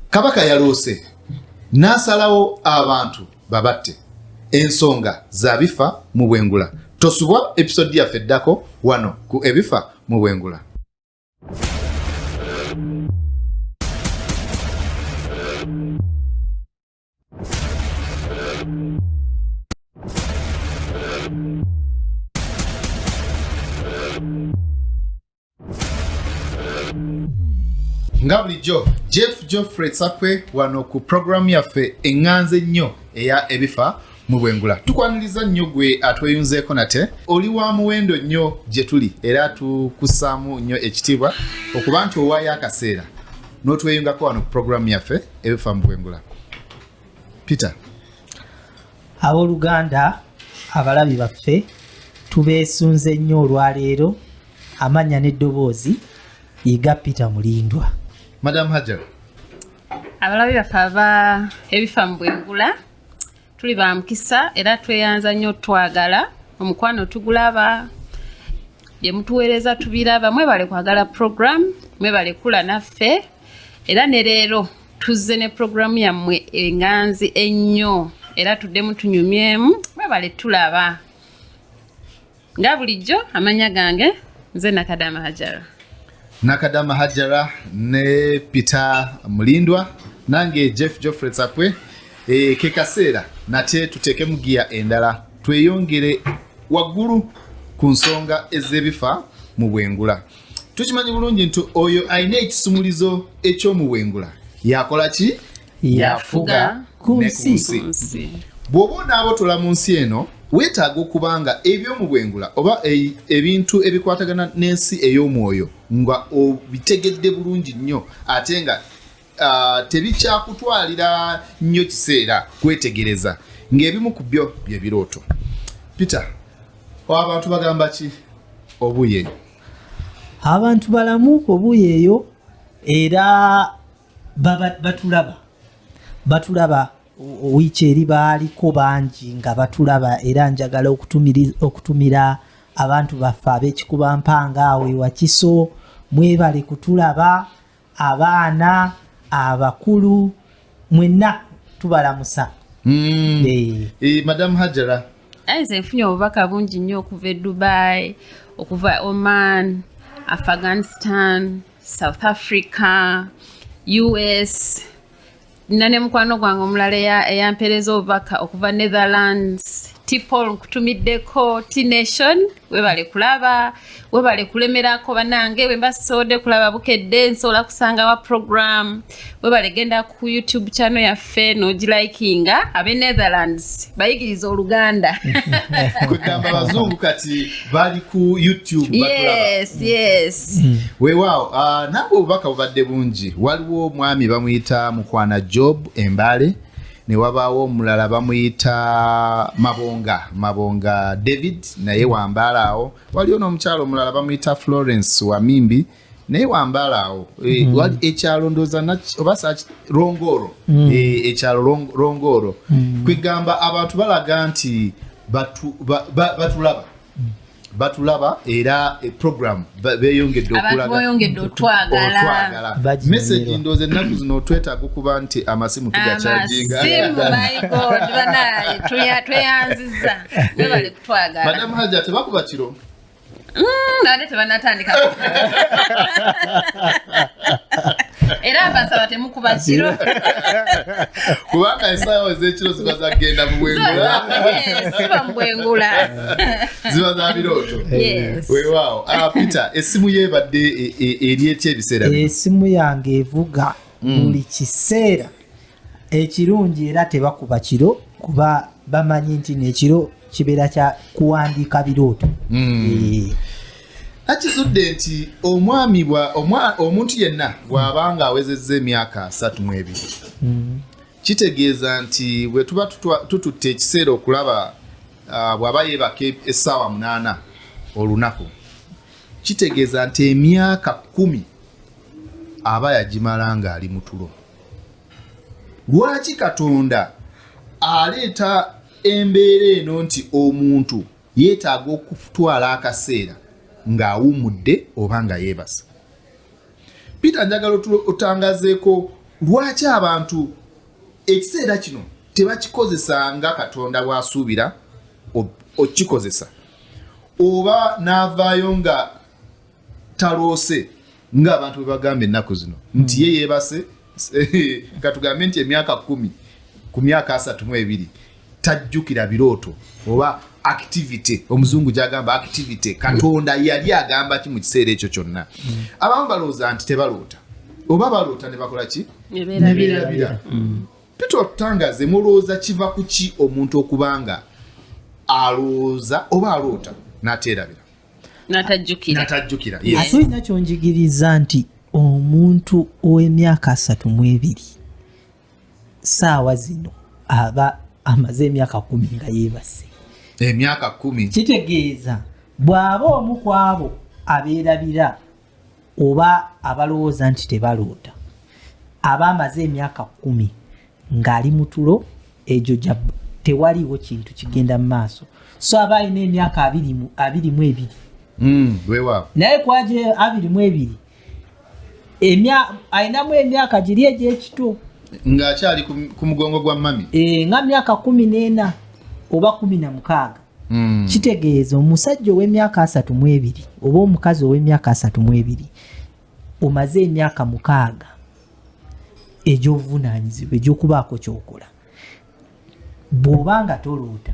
kabaka yaloose n'asalawo abantu babatte ensonga za bifa mu bwengula tosubwa episodi yaffe eddako wano ku ebifa mu bwengula nga bulijjo jeff geoffrey sakwe wano ku programu yaffe eŋŋanze ennyo eya ebifa mu bwengula tukwaniriza nnyo gwe atweyunzeeko nate oli wa muwendo nnyo gye tuli era tukussaamu nnyo ekitiibwa okuba nti owaayo akaseera n'otweyungako wano ku puroguramu yaffe ebifa mu bwengula peter abooluganda abalabi baffe tubeesunze nnyo olwaleero amannya n'eddoboozi yiga peter mulindwa madam hajar abalabi baffe aba ebifa mu bwengula tuli ba mukisa era tweyanza nnyo twagala omukwano tugulaba bye mutuweereza tubiraba mwebale kwagala program mwebale kula naffe era ne leero tuzze ne program yammwe enganzi ennyo era tuddemu tunyumyemu mwebale tulaba nga bulijjo amanya gange nze nakadama hajara nakadama hajara ne peter mulindwa nange jeff joffrey sakwe e, eh, kekaseera nate tuteekemu giya endala tweyongere waggulu ku nsonga ez'ebifa mu bwengula tukimanyi bulungi nti oyo alina ekisumulizo eky'omuwengula yakola ki yafuga ku nsi bw'oba onaabotola mu nsi eno weetaaga okuba nga eby'omu bwengula oba e, ebintu ebikwatagana n'ensi ey'omwoyo nga obitegedde bulungi nnyo ate nga tebikyakutwalira nnyo kiseera kwetegereza ng'ebimu ku byo bye birooto peter abantu bagamba ki obuyeeyo abantu balamu obuyeeyo era batulaba batulaba wiiki eri baaliko bangi nga batulaba era njagala okutumira abantu baffe ab'ekikuba mpanga awo ewakiso mwebale kutulaba abaana abakulu mwenna tubalamusa mm. hey. hey, madam hajara nze nfunye obubaka bungi nnyo okuva e dubai okuva oman afghanistan south africa us nina ne mukwano gwange omulala eyampereza obubaka okuva netherlands tipol nkutumiddeko tnation webale kulaba webale kulemerako banange wemba sisode kulaba bukedde nsobola kusangawa program webale genda ku youtube channel yaffe nogilikinga abe netherlands bayigiriza oluganda kugamba abazungu kati bali ku youtube yes, mm. yes. Mm. wewaawo uh, ah, nange obubaka bubadde bungi waliwo omwami bamuyita mukwana job embale newabaawo omulala bamuyita mabonga mabonga david naye wambaala awo waliwo n'omukyalo omulala bamuyita florence wamimbi mm. naye wambaala awo eh, mm. ekyalo ndooza oba rongooro mm. eh, ekyalo rongooro mm. kwegamba abantu balaga nti batulaba batulaba era eh, program beyongedde okulagaotwagala message ndooza ennaku zino otwetaaga okuba nti amasimu tugakyajingatweyanziza madamu haja tebakuba kiro ate tebanatandika era abasaba temukuba kiro kubanga esaawa ezekiro ziba zagenda mubwengula siba mubwengula ziba za birooto wewaawo ah, peter esimu yo ebadde e, e, eri etya ebiseera esimu yange evuga mm. buli kiseera ekirungi era tebakuba kiro kuba bamanyi nti nekiro kibeera kya kuwandiika birooto hmm. eh. nakizudde nti omwami omuntu yenna bw'aba nga awezezza emyaka asatu mu ebiri hmm. kitegeeza nti bwe tuba tututte ekiseera okulaba ah, bw'aba yeebaka e-, essaawa munaana olunaku kitegeeza nti emyaka kkumi aba yagimala ng'ali mu tulo lwaki katonda aleeta embeera eno nti omuntu yeetaaga okutwala akaseera ng'awumudde oba nga yeebasa peter njagala otangazeeko lwaki abantu ekiseera kino tebakikozesa nga katonda bw'asuubira okikozesa oba n'avaayo nga taloose ng'abantu bwe bagamba ennaku zino nti ye yeebase katugambe nti emyaka kumi ku myaka asatu mu ebiri tajjukira birooto oba activity omuzungu gyagamba activity katonda yali agamba ki mu kiseera ekyo kyonna abamu balowooza nti tebaloota oba baloota ne bakola ki neberabira peter otutangaze mulowooza kiva ku ki omuntu okubanga alowooza oba aloota n'ateerabira natajjukira ate olina kyonjigiriza nti omuntu ow'emyaka asatu mu ebiri saawa zino aba amaze emyaka kumi nga yeebase emyaka kumi kitegeeza bw'aba omu kwabo abeerabira oba abalowooza nti tebaloota aba amaze emyaka kumi ng'ali mu tulo egyo gya tewaliwo kintu kigenda mu maaso so aba alina emyaka abiri mu ebiri hmm, naye kwaje abiri mu ebiri alinamu emyaka giri egy'ekito ng'akyali ku mugongo gwa mami eh, nga myaka kumi n'ena oba kumi na mukaaga hmm. kitegeeza omusajja ow'emyaka asatu mu ebiri oba omukazi ow'emyaka asatu mu ebiri omaze emyaka mukaaga egy'obuvunaanyizibwa egy'okubaako kyokola bw'oba nga toloota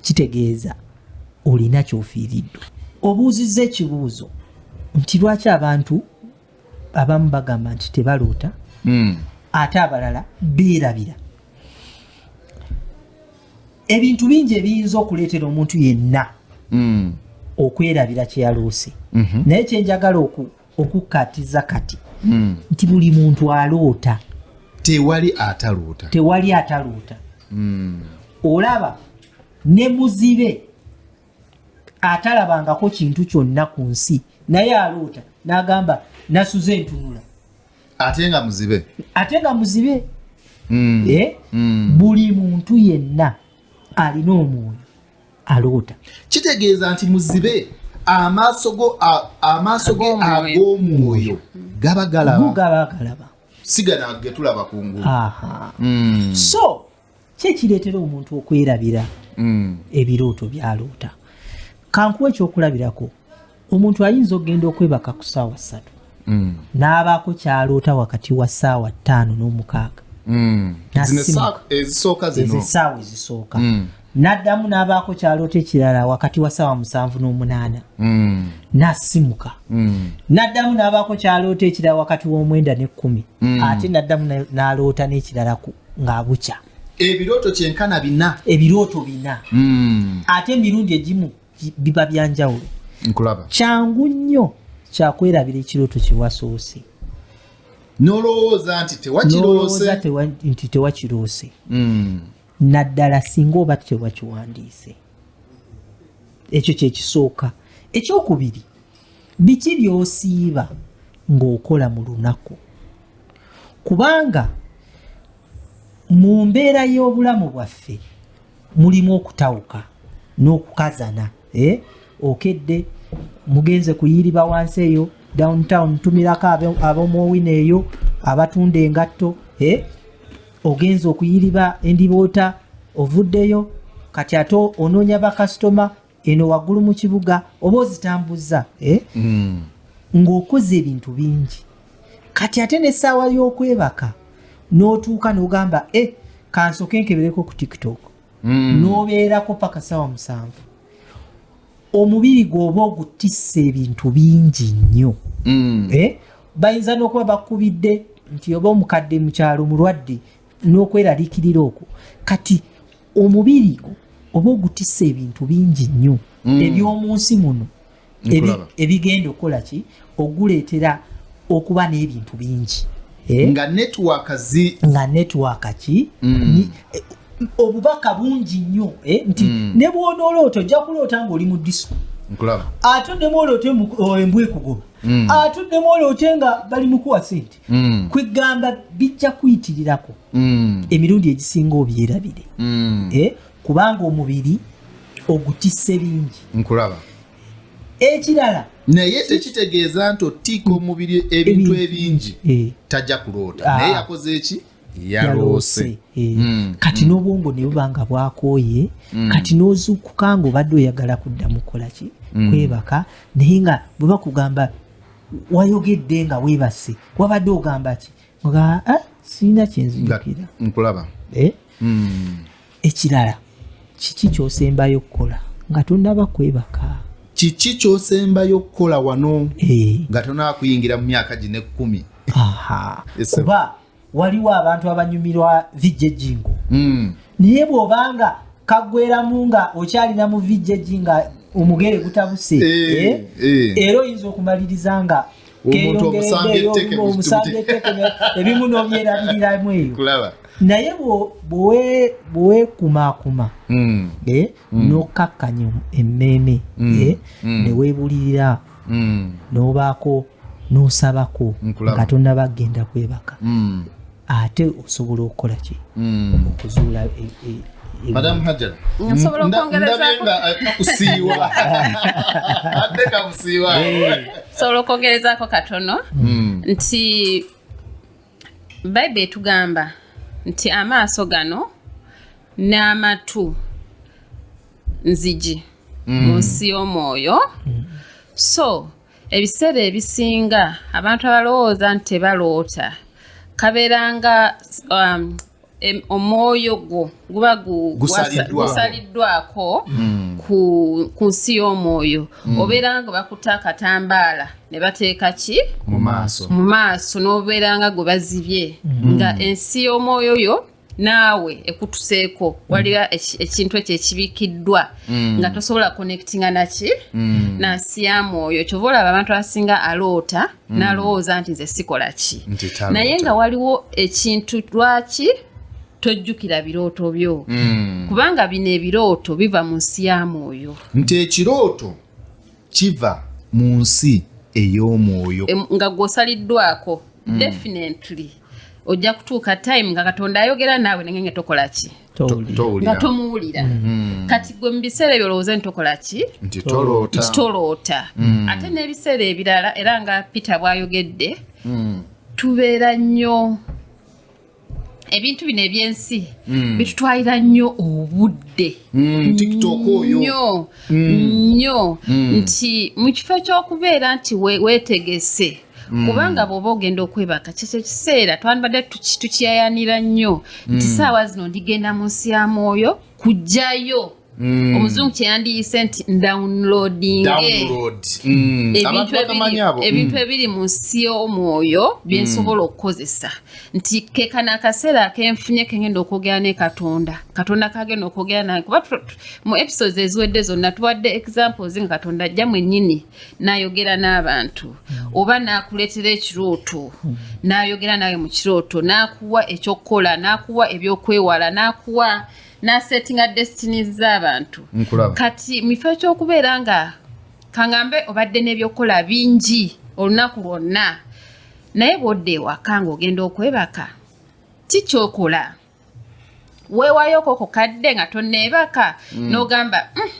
kitegeeza olina kyofiiriddwa obuuzizza ekibuuzo nti lwaki abantu abamu bagamba nti tebaloota hmm. ate abalala beerabira ebintu bingi ebiyinza okuleetera omuntu yenna hmm. okwerabira kyeyaloose mhm. naye kyenjagala okukkatiza kati hmm. nti buli muntu aloota tewali ataloota tewali ataloota olaba ne muzibe atalabangako kintu kyonna ku nsi naye aloota n'agamba nasuze entunula ate nga muzibe ate nga muzibe mm. Eh? Mm. buli muntu yenna alina omwoyo aloota kitegeeza nti muzibe amaaso go amaaso ge ag'omwoyo gaba galaba gaba galaba sigana getulaba kungulu mm. so ki ekireetera omuntu okwerabira mm. ebirooto byaloota kankuwa ekyokulabirako omuntu ayinza okugenda okwebaka ku saawa ssatu mm. n'abaako kyaloota wakati wa saawa ttaano n'omukaaga mm. esaawa ezisooka n'addamu n'abaako kyaloota ekirala wakati wa saawa musanvu n'omunaana n'asimuka n'addamu n'abaako kyaloota ekirala wakati w'omwenda n'ekkumi ate n'addamu n'aloota n'ekirala ng'abukya ebirooto kyenkana bina ebirooto bina hmm. ate emirundi egimu biba byanjawulo nkulaba kyangu nnyo kyakwerabira ekirooto kyewasoose nolowooza nti tewakiroose nti tewakiroose hmm. naddala singa oba tewakiwandiise ekyo kyekisooka ekyokubiri Biki by'osiiba ng'okola mu lunaku? Kubanga mu mbeera y'obulamu bwaffe mulimu okutawuka n'okukazana. Eh? Okedde mugenze kuyiriba wansi eyo downtown tumirako ab'omuowina eyo abatunda engatto eh? ogenze okuyiriba endiboota ovuddeyo kati ate onoonya bakasitoma eno waggulu mu kibuga oba ozitambuzza eh? mm. ng'okoze ebintu bingi kati ate n'essaawa y'okwebaka n'otuuka n'ogamba e eh, kansoke nkebereko ku tiktok mm. n'obeerako paka ssaawa musanvu omubiri gwoba ogutissa ebintu bingi nnyo mm. eh? bayinza n'okuba bakubidde nti oba omukadde mukyalo mulwadde n'okweraliikirira okwo kati omubiri oba ogutisa ebintu bingi nnyo mm. eby'omu nsi muno ebigenda okukola ki oguleetera okuba n'ebintu bingi eh? nga netiwaaka zi nga netiwaaka ki mm. eh, obubaka bungi nnyo eh? nti mm. ne bwonooloota ojja kuloota ng'oli mu disiko ate oddemu oloote embwa ekugoba ate oddemu oloote nga bali mukuwa sente mm. kwegamba bijja kuyitirirako mm. emirundi egisinga obyerabire mm. eh? kubanga omubiri ogutisse bingi nkulaba ekirala naye tekitegeeza nti otiika omubiri ebintu ebingi eh. tajja kuloota ah. naye yakoze eki yaloose eh. mm. kati mm. n'obwongo ne buba nga bwakooye mm. kati n'ozuukuka nga obadde oyagala kudda mu kukolaki mm. kwebaka naye nga bwe bakugamba wayogedde nga webase wabadde ogamba ki nga eh, sirina kyenzijukira nkulaba eh? hmm. ekirala kiki kyosembayo okukola nga tonaba kwebaka kiki kyosembayo okukola wano eh. nga tonaba kuyingira mu myaka gino ekkumi kuba waliwo abantu abanyumirwa vijejingo hmm. naye bwobanga kagweramu nga okyalina mu vijeji nga omugere gutabuse eh, eh? Eh. era oyinza okumaliriza nga ebimu nobyerabiriramu eyo naye bwewekumakuma hmm. hmm. nokkakkanya emmeeme newebulirira mm. nobaako nosabako nga tonaba kugenda kwebaka mm. ate osobola okukola ki mm. okuzuula e, e, e, madam hajar nsobola okwongerezaako katono nti Bible etugamba nti amaaso gano n'amatu nzigi mm. mu nsi y'omwoyo mm. so ebiseera ebisinga abantu abalowooza nti tebaloota kabeeranga um, omwoyo gwo guba gusaliddwako hmm. ku nsi y'omwoyo hmm. obeera nga bakutte akatambaala ne bateeka ki mu maaso n'obeera nga gwe bazibye hmm. nga ensi y'omwoyo yo naawe ekutuseeko waliwo ekintu ekyo ekibikiddwa nga tosobola connectinga naki nansi ya mwoyo kyova olaba abantu abasinga aloota mm. nalowooza nti nze sikola ki naye nga waliwo ekintu lwaki tojjukira birooto byo mm. kubanga bino ebirooto biva mu nsi ya mwoyo nti ekirooto kiva mu nsi ey'omwoyo nga gwosaliddwako mm. definitely ojja kutuuka time nga katonda ayogera naawe nenge nga tokola ki nga tomuwulira mm. mm. kati gwe mu biseera ebyo olowooza nti tokola ki nti toloota mm. ate n'ebiseera ebirala era nga peter bwayogedde tubeera nnyo ebintu bino ebyensi bitutwalira nnyo obudde nyo nnyo nti mu kifo ky'okubeera nti wetegese Mm. kubanga bwoba ogenda okwebaka kyekyo ekiseera twandibadde tukiyayanira nnyo nti mm. saawa zino ndigenda mu nsi ya mwoyo kujjayo mm. omuzungu kyeyandiyise nti ndownloadingebintu ebiri mu nsi y'omwoyo byensobola okukozesa nti kekana akaseera kenfunye kengenda okwogera ne katonda katonda kagenda okwogera naye kuba mu episodes eziwedde zonna tuwadde examples nga katonda ajja mwenyini nayogera n'abantu hmm. oba nakuleetera ekirooto hmm. nayogera nawe mu kirooto nakuwa ekyokukola nakuwa ebyokwewala nakuwa nasetinga destinies z'abantu kati mu kifo ekyokubeera nga kangambe obadde n'ebyokukola bingi olunaku lwonna naye bwodda ewaka ngaogenda okwebaka kikyokola weewayoko ku kadde nga tonneebaka mm. n'ogamba mm,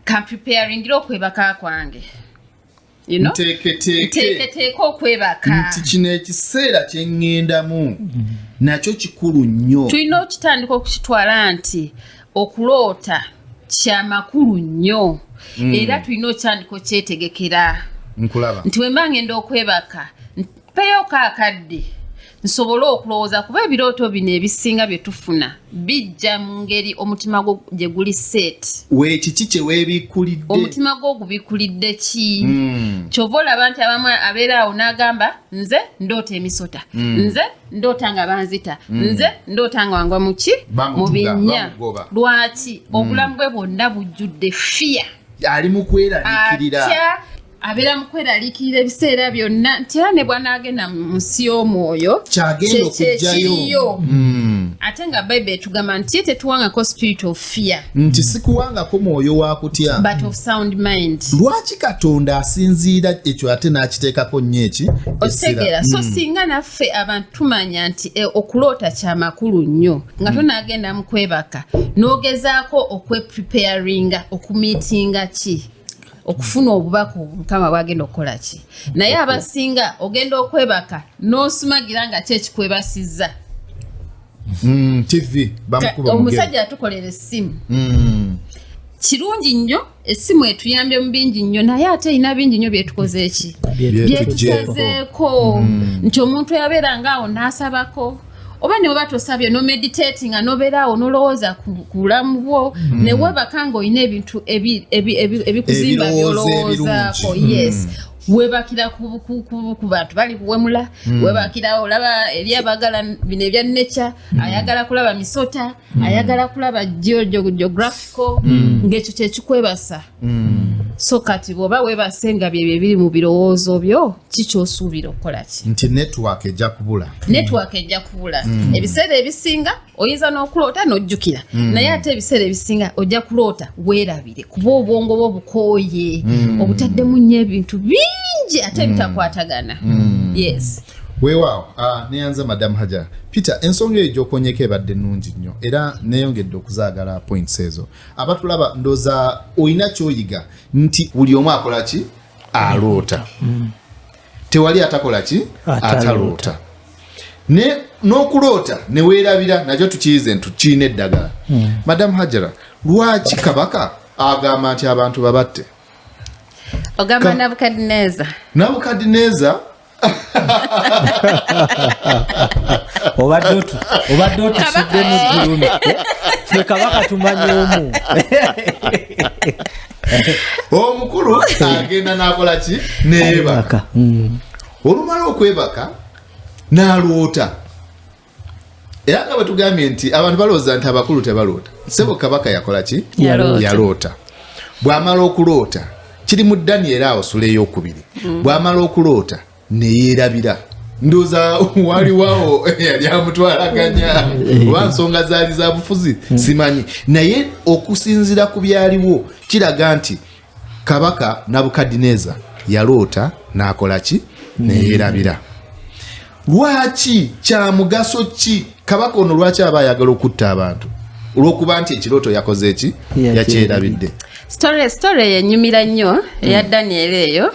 kampreparingira okwebaka kwange nteeketeeka okwebaka nti kino ekiseera kye ŋŋendamu nakyo kikulu nnyo tulina okitandika okukitwala nti okuloota kya makulu nnyo mm. era tulina okitandika okyetegekera nkulaba nti wemba ngenda okwebaka peyo kakadde nsobole okulowooza kuba ebirooto bino ebisinga bye tufuna bijja mu ngeri omutima gwo gye guli set wekiki kye weebikulidde omutima gwo gubikulidde ki hmm. kyova olaba nti abamu abeera awo n'agamba nze ndoota emisota hmm. nze ndoota nga banzita hmm. nze ndoota nga wangwa muki mu binnya lwaki obulamu bwe bwonna bujjudde fiya ali mu kweraliikirira abeera mu kweraliikirira ebiseera byonna nti era ne bwanaagenda mu nsi y'omwoyo kyekiriyo hmm. ate nga bayibuli etugamba nti ye tetuwangako spirit of fear nti hmm. sikuwangako mwoyo wa kutya but of sound mind lwaki katonda asinziira ekyo ate n'akiteekako nnyo eki okitegeera so hmm. singa naffe abantu tumanya nti eh, okuloota kyamakulu nnyo nga tonaagenda mu kwebaka n'ogezaako okwepreparinga okumiitinga ki okufuna obubaka mukama bwagenda okukola ki naye abasinga ogenda okwebaka n'osumagira nga ki ekikwebasizza mm, omusajja atukolera essimu mm. kirungi nnyo essimu etuyambye mu bingi nnyo naye ate erina bingi nnyo byetukoze eki byetusazeeko mm. nti omuntu yabeera ngaawo n'asabako oba ne weba tosabye no meditate nga nobeera awo nolowooza ku bulamu bwo mm. ne webaka nga olina ebintu ebikuzimba byolowoozaako yes mm. webakira ku bantu bali kuwemula hmm. webakira olaba eri abagala bino ebya nature hmm. ayagala kulaba misota hmm. ayagala kulaba geographical ng'ekyo kyekikwebasa mm. so kati bwoba webase nga byebyo ebiri mu birowoozo byo kikyosuubira okukola ki nti network ejja kubula network ejja kubula mm. ebiseera ebisinga oyinza n'okuloota n'ojjukira mm. naye ate ebiseera ebisinga ojja kuloota weerabire kuba obwongo bwo bukooye mm. obutaddemu nnyo ebintu bingi ate mm. bitakwatagana mm. yes weewaawo uh, ah, neyanza madamu haja peter ensonga eyo gyokonyeko ebadde nungi nnyo era neyongedde okuzaagala points ezo abatulaba ndoza olina kyoyiga nti buli omu akola ki aloota mm. tewali atakola ki ataloota ne n'okuloota neweerabira nakyo tukiyize nti kirina eddagala mm. madamu hajara lwaki kabaka agamba nti abantu babatte ogamba nabukadineeza nabukadineeza obadde otusudde mu ggulumi fe kabaka tumanyi omu omukulu agenda nakola ki neyebaka mm. olumala okwebaka nalwota era nga bwetugambye nti abantu balowooza nti abakulu tebaloota sebo kabaka yakola ki yaloota bwamala okuloota kiri mu daniel awo sula eyokubiri mm. bwamala okuloota neyerabira ndoza waliwawo yali amutwalaganya mm. oba nsonga zaali zabufuzi mm. simanyi naye okusinzira ku byaliwo kiraga nti kabaka nabukadineeza yaloota n'akola ki neyerabira lwaki kyamugaso ki kabaka ono lwaki aba ayagala okutta abantu olwokuba nti ekirooto yakoze eki yakyerabidde story story yenyumira nnyo eya hmm. daniel eyo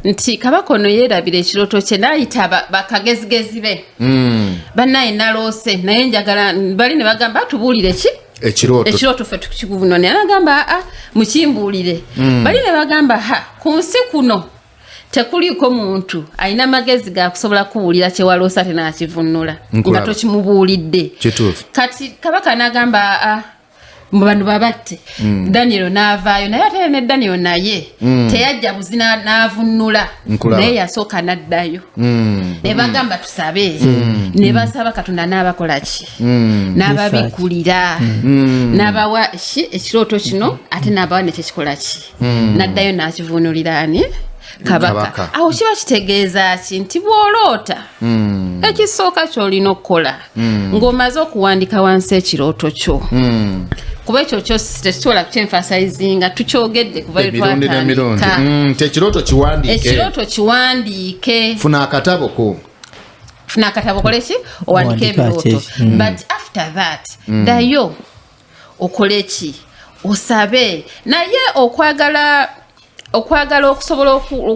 nti kabaka ono yeerabira ekirooto kye naayita bakagezigezi be hmm. banaye naloose naye njagala bali ne bagamba tubuulire ki ekirooto ekirooto ffe tukikuvuno naye agamba aa ah, mukimbuulire mm. bali ne bagamba ha ku nsi kuno tekuliiko muntu alina amagezi gakusobola kuwulira kyewaloosa te nakivunula nga tokimubuulidde kati kabaka nagamba aa ah, bano babatte mm. daniel naavaayo naye ate ne daniel naye mm. teyajja buzi naavunnula naye yasooka naddayo mm. ne bagamba tusabe ne basaba katonda naabakolaki mm. n'ababikulira mm. n'abawa ki ekirooto kino ate n'abawa nekyo kikola ki mm. n'addayo n'akivuunulira ani kabaka awo kiba kitegeeza ki nti bw'oloota mm. ekisooka ky'olina okukola mm. ng'omaze okuwandika wansi ekirooto kyo mm. kuba ekyo kyo tekisobola kukyenfasayizinga tukyogedde kubaekirooto mm, kiwandiike funa akatabo ko funa akatabo koleki owandika ebirooto mm. but after that mm. dayo okoleki osabe naye okwagala okwagala okusobola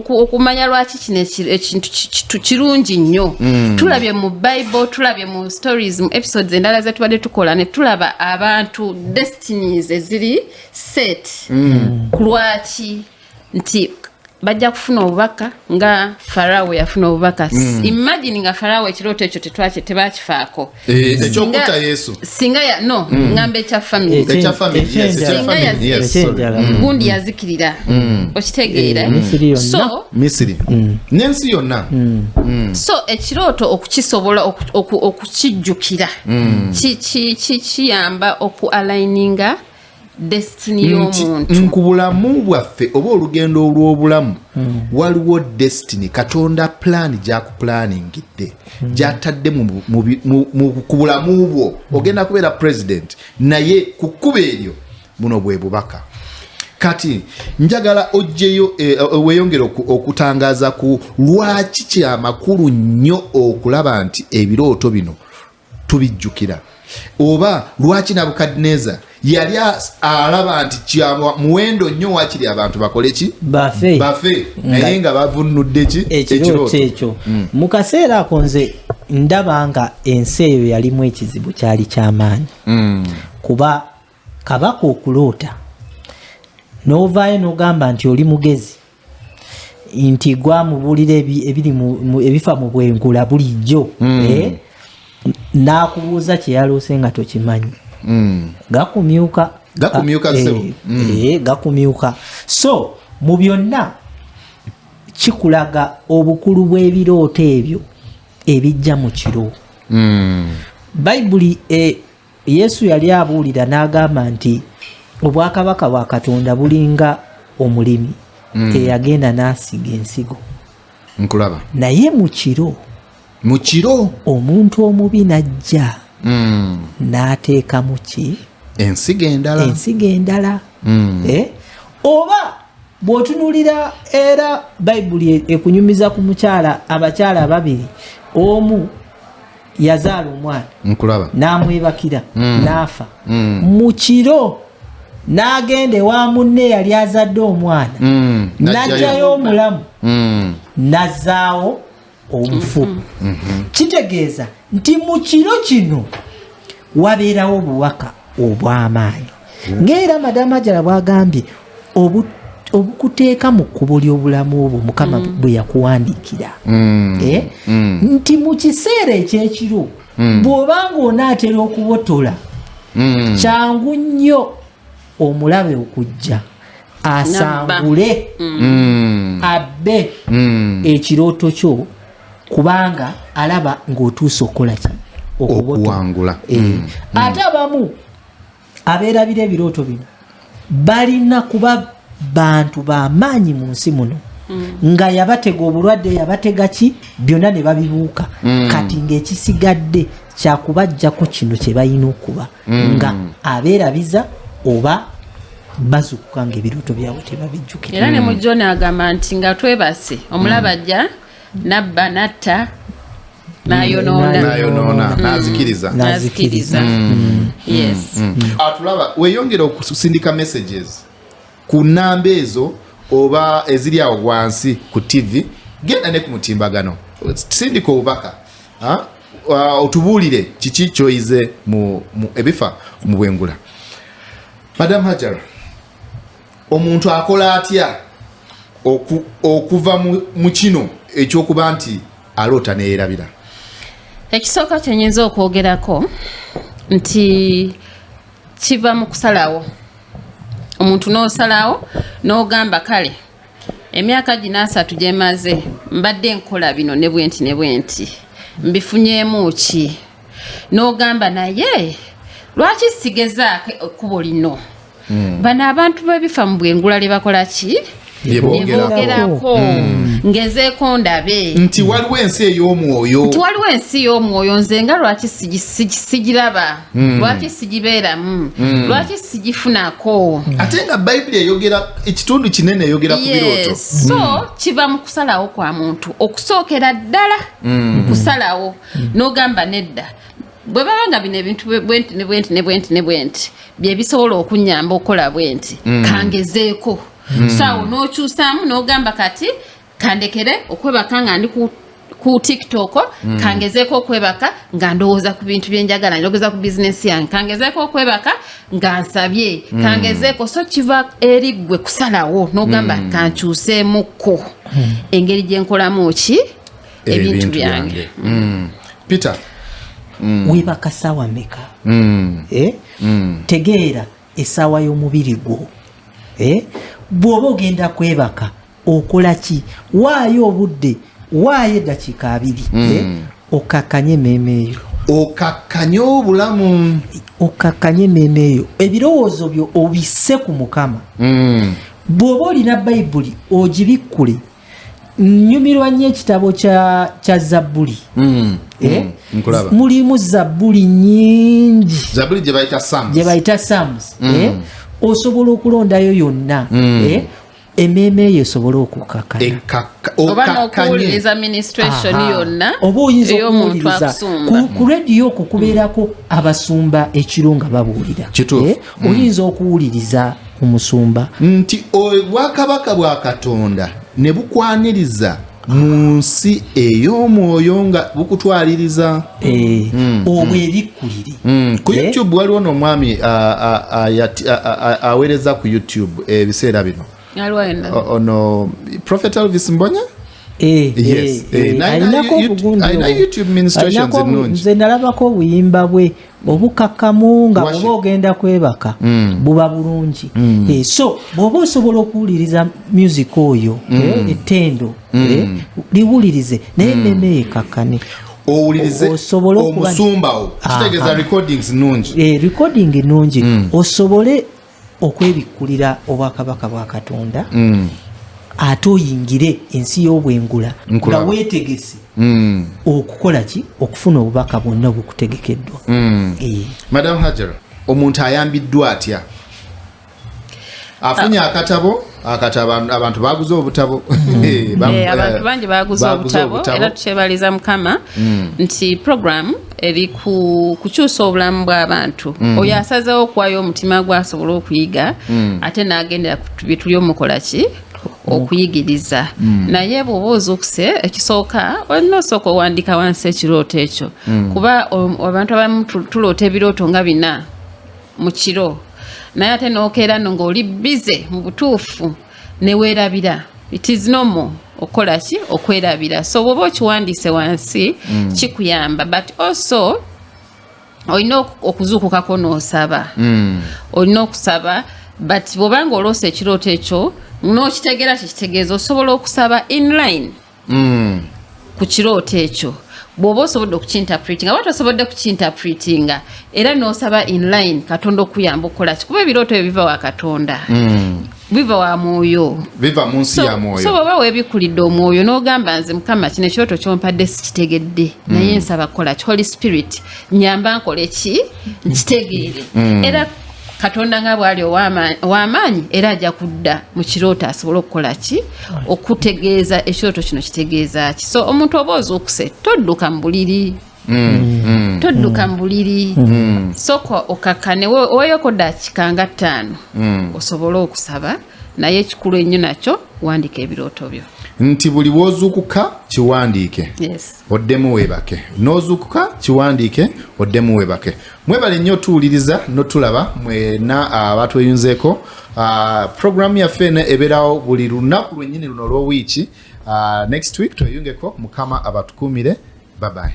okumanya lwaki kino ekintu kirungi nnyo mm. tulabye mu bible tulabye mu stories mu episodes endala zetubadde tukola netulaba abantu destinies eziri set mm. kulwaki nti bajja kufuna obubaka nga farawo yafuna obubaka mm. imagine nga farawo ekirooto ekyo tetwaki tebakifaako eh, ekyokuta yesu singa ya no mm. ngamba ekya famiry singa yazikirira mm. gundi yazikirira mm. okitegeera eh, mm. so misiri mm. nensi yonna mm. mm. so ekirooto okukisobola okukijjukira mm. kiyamba oku aligninga ku bulamu bwaffe oba olugendo olw'obulamu hmm. waliwo destiny katonda pulaani gyakupulaaningidde hmm. gyatadde ku bulamu bwo hmm. ogenda kubeera president naye ku kkuba eryo buno bwe bubaka kati njagala ojjeyo e, e, weyongere okutangaza ku lwaki kyamakulu nnyo okulaba nti ebirooto bino tubijjukira oba lwaki nabukadineza yali alaba nti kyabwa muwendo nnyo wakiri abantu bakole ki bafe bafe naye nga bavunnudde ki ekirooto ekyo mm. mu kaseera ako nze ndaba nga ensi eyo yalimu ekizibu kyali kyamaanyi mm. kuba kabaka okuloota n'ovaayo n'ogamba nti oli mugezi nti gwamubuulira ebiri ebifa mu bwenkula bulijjo hmm. eh? n'akubuuza kyeyaloose nga tokimanyi hmm. gakumyuka gakumyuka ah, eh, hmm. eh, gakumyuka so mu byonna kikulaga obukulu bw'ebirooto ebyo ebijja mu kiro bayibuli Yesu yali abuulira n'agamba nti obwakabaka bwa Katonda bulinga omulimi mm. eyagenda n'asiga ensigo nkulaba naye mu kiro mu kiro omuntu omubi n'ajja mm. n'ateekamu ki ensigo endala ensigo endala mm. eh? oba bw'otunuulira era bayibuli e-, ekunyumiza ku mukyala abakyala ababiri omu yazaala omwana nkulaba n'amwebakira mm. n'afa mm. mu kiro n'agenda ewa munne yali azadde omwana mm. n'ajjayo omulamu mm. n'azaawo omufu mm. mm-hmm. kitegeeza nti mu kiro kino wabeerawo obuwaka obw'amaanyi ng'era madamu ajala bwagambye obukuteeka mu kkubo ly'obulamu obwo mukama mm. bwe yakuwandiikira mm. Eh? Mm. nti mu kiseera eky'ekiro bw'oba ng'onaatera okubotola kyangu nnyo omulabe okujja asangule abbe ekirooto kyo kubanga alaba ng'otuuse okukola ki okuwangula eh, hmm. ate abamu abeerabira ebirooto bino balina kuba bantu bamaanyi mu nsi muno hmm. nga yabatega obulwadde yabatega ki byonna ne babibuuka hmm. kati ng'ekisigadde kyakubajjako kino kye balina okuba nga abeerabiza oba bazukuka nga ebirooto byabwe tebabijjukira era ne mujjona agamba nti nga twebase omulaba ajja nabba natta nayonoona nayonoona mm. nazikiriza nazikiriza mm. yes mm. atulaba weyongera okusindika messages ku namba ezo oba eziri awo wansi ku tv genda ne ku mutimbagano sindika obubaka uh, otubuulire kiki kyoyize ebifa mu bwengula madam hajara omuntu akola atya okuva mu kino ekyokuba nti aloota neyerabira ekisooka kyenyinza okwogerako nti kiva mu kusalawo omuntu n'osalawo n'ogamba kale emyaka gino asatu gyemaze mbadde nkola bino ne bwenti ne bwenti mbifunyeemu ki n'ogamba naye lwaki sigezaako ekkubo lino hmm. bano abantu bebifa mu bwengula lye bakola ki yebogerako hmm. ngezeeko ndabe nti waliwo ensi ey'omwoyo nti waliwo ensi y'omwoyo nze nga lwaki sigiraba hmm. lwaki sigibeeramu hmm. lwaki sigifunako ate nga bayibuli eyogera ekitundu kinene eyogera ku birooto so kiva mu kusalawo kwa muntu okusookera ddala kusalawo mm. nogamba nedda bwe baba nga bino ebintu bwenti ne bwenti ne bwenti ne bwenti bye bisobola okunyamba okukola bwenti mm. kangezeeko mm. saawo n'okyusaamu n'ogamba kati kandekere okwebaka nga ndi ku ku tiktok mm. kangezeeko okwebaka nga ndowooza ku bintu byenjagala ndowooza ku bizinesi yange kangezeeko okwebaka nga nsabye mm. kangezeeko so kiva eri ggwe kusalawo n'ogamba mm. kankyuseemukko mm. engeri gyenkolamu ki ebintu byange mm. peter mm. webaka sawa meka mm. eh? mm. tegeera esawa y'omubiri gwo eh? bw'oba ogenda kwebaka okola ki waayo obudde waayo eddakiika abiri mm. eh? okakkanye emmeeme eyo okakkanye obulamu okakkanye emmeeme eyo ebirowoozo byo obisse ku mukama mm. bw'oba olina bayibuli ogibikkule nyumirwa nnyo ekitabo kya zabbuli mm, eh? mm, mulimu zabbuli nyingi gye bayita sams mm. eh? osobola okulondayo yonna eh? emmeeme eyo esobola okukakanyaobaokuwuliriza ministration yonna oba oyinza okuwuliriza ku rediyo okwo kubeerako abasumba ekiro nga babuulira oyinza okuwuliriza omusumba nti obwakabaka bwa katonda ne bukwaniriza mu nsi ey'omwoyo nga bukutwaliriza eh, mm, obwo mm. ebikkuliri mm, ku eh? youtube waliwo n'omwami aweereza ku youtube ebiseera eh, bino ono prophet elvis mbonya Eh, eh, eh, alinako obugundinze nalabako obuyimba bwe obukakkamu nga oba ogenda kwebaka mm. buba bulungi mm. eh, so bwoba osobola okuwuliriza music oyo mm. eh, ettendo eh, liwulirize naye meme ekakkane owulirize omusumbawo ah, kitegeeza ah. recordings nungi recording nungi osobole okwebikkulira obwakabaka bwa katonda mm. ate oyingire ensi y'obwengula nga weetegese mm. okukola ki okufuna obubaka bwonna obukutegekeddwa mm. eh. madam hajar omuntu ayambiddwa atya afunye ah. akatabo Ah, kati abantu baguze obutabo hmm. eh, eh, abantu eh, bangi baguze obutabo era tukyebaliza mukama hmm. nti program eri kukyusa obulamu bw'abantu hmm. oyo asazewo okuwayo omutima gwe asobole okuyiga ate n'agendera byetuli omukola ki okuyigiriza mm. naye bwoba ozukuse ekisooka olina osooka owandika wansi ekirooto ekyo mm. kuba um, abantu abamu tuloota ebirooto nga bina mu kiro naye ate nokeera no ng'oli bize mu butuufu neweerabira it is normal okola ki okwerabira so bwoba okiwandiise wansi mm. kikuyamba but also olina okuzuukukako n'osaba mm. olina okusaba but bwobanga oloosa ekirooto ekyo n'okitegeera kyekitegeeza osobola okusaba inline mm. ku kirooto ekyo bwoba osobodde okukinterpretinga oba tosobodde kukinterpretinga era nosaba inline katonda okuyamba okukola kikuba ebirooto ebyo biva wa katonda mm. biva wa mwoyo biva mu nsi ya mwoyo so bwoba webikulidde omwoyo n'ogamba nze mukama kino ekirooto kyompadde sikitegedde mm. naye nsaba kukola ki holy spirit nyamba nkole ki nkitegeere mm. era katonda nga bwali owamaanyi era ajja kudda mu kirooto asobole okukola ki okutegeeza ekirooto kino kitegeeza ki so omuntu oba ozuukuse todduka mu buliri mm, mm. todduka mu buliri mm. soka okakkane weyoko daakika nga ttaano osobole okusaba naye ekikulu ennyo nakyo wandika ebirooto byo nti buli wozuukuka kiwandiike oddemu weebake n'ozuukuka kiwandiike oddemu weebake mwebale nnyo tuwuliriza notulaba mwena abatweyunzeeko uh, ah, ah, programu yaffe eno ebeerawo buli lunaku lwennyini luno olw'owiiki uh, ah, next week tweyungeko mukama abatukuumire babaye